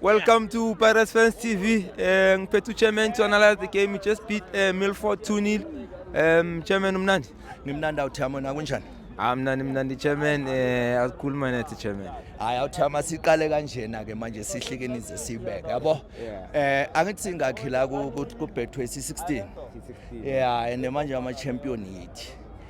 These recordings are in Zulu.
Welcome to Pirates Fans TV. Eh, Ngiphethe uchairman to analyze the game. We just beat uh, Milford 2-0. Um, chairman umnandi. Ngimnandi awuthamo na kunjani? Amnandi mnandi chairman eh asikhuluma nathi chairman. Hayi awuthama siqale kanjena ke manje sihlikeni ze sibeke yabo. Eh angithi singakhi la ku ku Betway 16. Yeah, and manje ama champion yithi.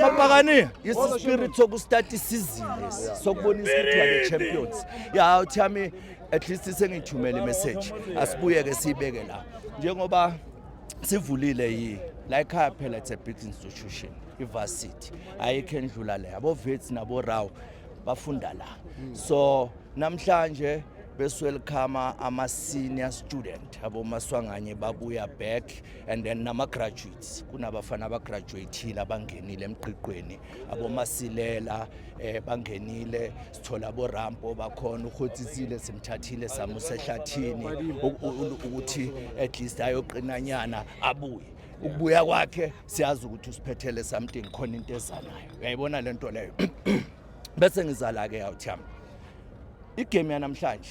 mabhakani yisi spirit sokustart isizini lesi sokubonisa ukuthi wale champions ya uthi yami at least sengithumele imessage asibuye ke siyibeke la njengoba sivulile yi la ekhaya phela it's a big institution ivarsity ayikho endlula le abovets naboraw bafunda la so namhlanje beswelcome ama-senior student abomaswanganye babuya back and then nama-graduates kunabafana abagraduatile abangenile emgqiqweni abomasilela um eh, bangenile sithola borampo bakhona uhotsisile simthathile samusa ehlathini ukuthi at least ayoqinanyana abuye ukubuya kwakhe siyazi ukuthi usiphethele something khona into ezanayo uyayibona le nto leyo bese ngizala-ke yawuthi yami igame yanamhlanje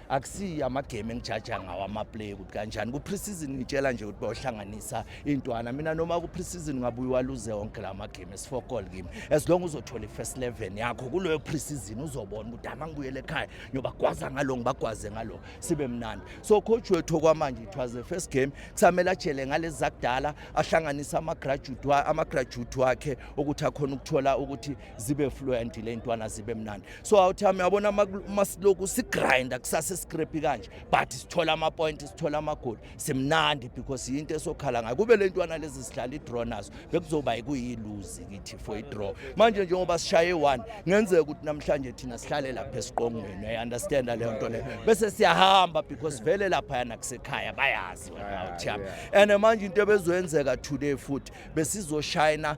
akusiyi amagame engijaja ngawo amaplay ukuthi kanjani ku-preseason ngitshela nje ukuthi bayohlanganisa intwana mina noma ku-preseason ngabuye waluze wonke la magame esifour goal kimi as long uzothola i-first eleven yakho kuleyo preseason uzobona ukuthi ama ngibuyele ekhaya ngiyobagwaza ngalo ngibagwaze ngalo sibe mnandi so coach wethu okwamanje it was the first game kusamele ajele ngalezi zakudala ahlanganise ama-graduate wakhe ukuthi akhona ukuthola ukuthi zibe fluent le ntwana zibe mnandi so awuthami yabona masiloku sigrinda kusase scrape kanje but sithola ama point sithola ama goal simnandi because yinto esokhala ngayo kube le ntwana lezi sidlala i draw nazo bekuzoba ikuyiluzi kithi for i draw manje njengoba sishaye one ngenzeka ukuthi namhlanje thina sihlale lapha esiqongweni i understand le nto le bese siyahamba because vele lapha yana kusekhaya bayazi wena awuthami and manje into ebezoyenzeka today futhi besizoshayina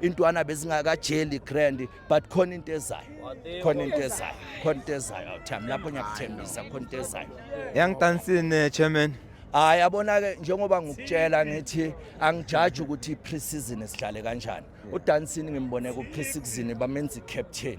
intwana bezingakajeli grand but khona into ezayo khona into ezayo khona into ezayo awuthami lapho ngiyakuthembisa khona into ezayo young dancing eh, chairman hayi yabona-ke njengoba ngikutshela ngithi angijaji ukuthi i-pre-season esidlale kanjani udansini ngimbone ku-pre-season bamenza i-captain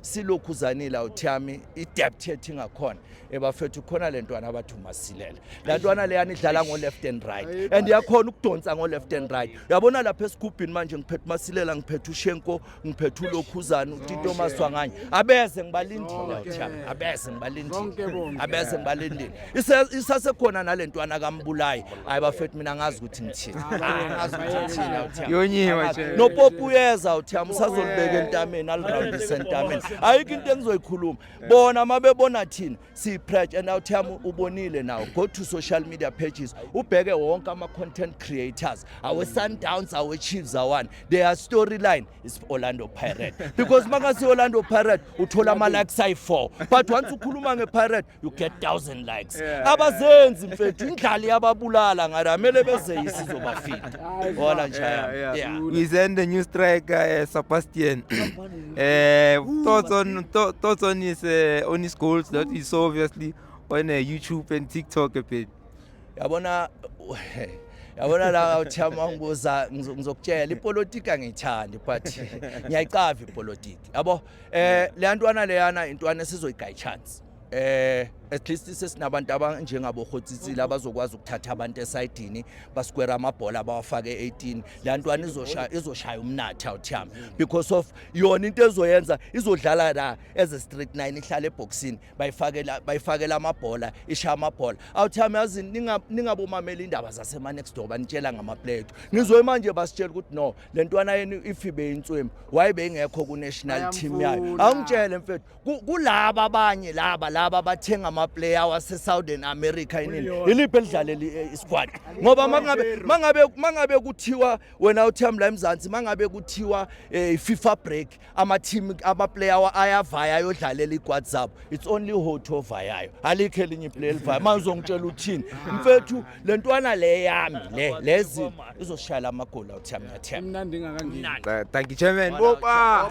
silokhu uzanile awuthi yami idebt yethu ingakhona ebafethu khona le ntwana abathi umasilela la ntwana leyana idlala ngo-left and right and yakhona ukudonsa ngo-left and right uyabona lapha esigubhini manje ngiphethe umasilela ngiphethe ushenko ngiphethe ulokhuzane utito maswanganye abeze ngibalindile awuthi yami abeze ngibalindile abeze ngibalindile isasekhona nale ntwana kambulayi hayi bafethu mina ngazi ukuthi ngithini ngazi ukuthi ngithini awuthiyama yonyiwe nje nopopu uyeza awuthiyama usazolibeka entameni alirandise entameni ayikho into engizoyikhuluma bona uma bebona thina siyiprech and awuthiyama ubonile nawo go to social media pages ubheke wonke ama-content creators awe-sundowns awe-chiefs awani their storyline is orlando pirate because uma kase-orlando pirate uthola ama-likes ayi-four but once ukhuluma nge-pirate you get 1000 likes yeah. abazenzi mfethu indlali yababulala ngara amele beze isizobafika wala njaya we send a new striker uh, eh, Sebastian eh uh, thoughts on thoughts on his uh, on his goals that is obviously on uh, YouTube and TikTok a bit yabona yabona la uthiyama ngibuza ngizokutshela ipolitiki angiyithandi but ngiyayicava ipolitiki yabo Eh leyantwana leyana intwana esizoyigayi chance. eh at least sesinabantu abanjengabo Khotsitsile mhm. abazokwazi ukuthatha abantu esayidini basikwera amabhola abawafake 18 la ntwana izoshaya izoshaya umnatha uthiyami because of yona into ezoyenza izodlala la as a street 9 ihlale eboxini bayifakela bayifakela amabhola ishaya amabhola awuthami yazi ningabomamela indaba zasema-next door banitshela ngamapleto ngizwe manje basitshela ukuthi no le ntwana yenu ifibe inswemu waye beyingekho ku-national team yayo awungitshele mfethu kulaba abanye laba laba bathenga amaplayer wasesouthern america inini iliphi elidlaleli eh, isquad ngoba mangabe kuthiwa wena uthami la emzansi mangabe kuthiwa um eh, i-fifa break amateam amaplayer ayavaya ayodlalela igwad zabo it's only hot ovayayo alikho elinye iplayer elivaya manje uzongitshela uthini mfethu le ntwana le yami le lezi izoshayela amagoli awuthi yami yathemba mnandi ingakangeni thank you chairman boba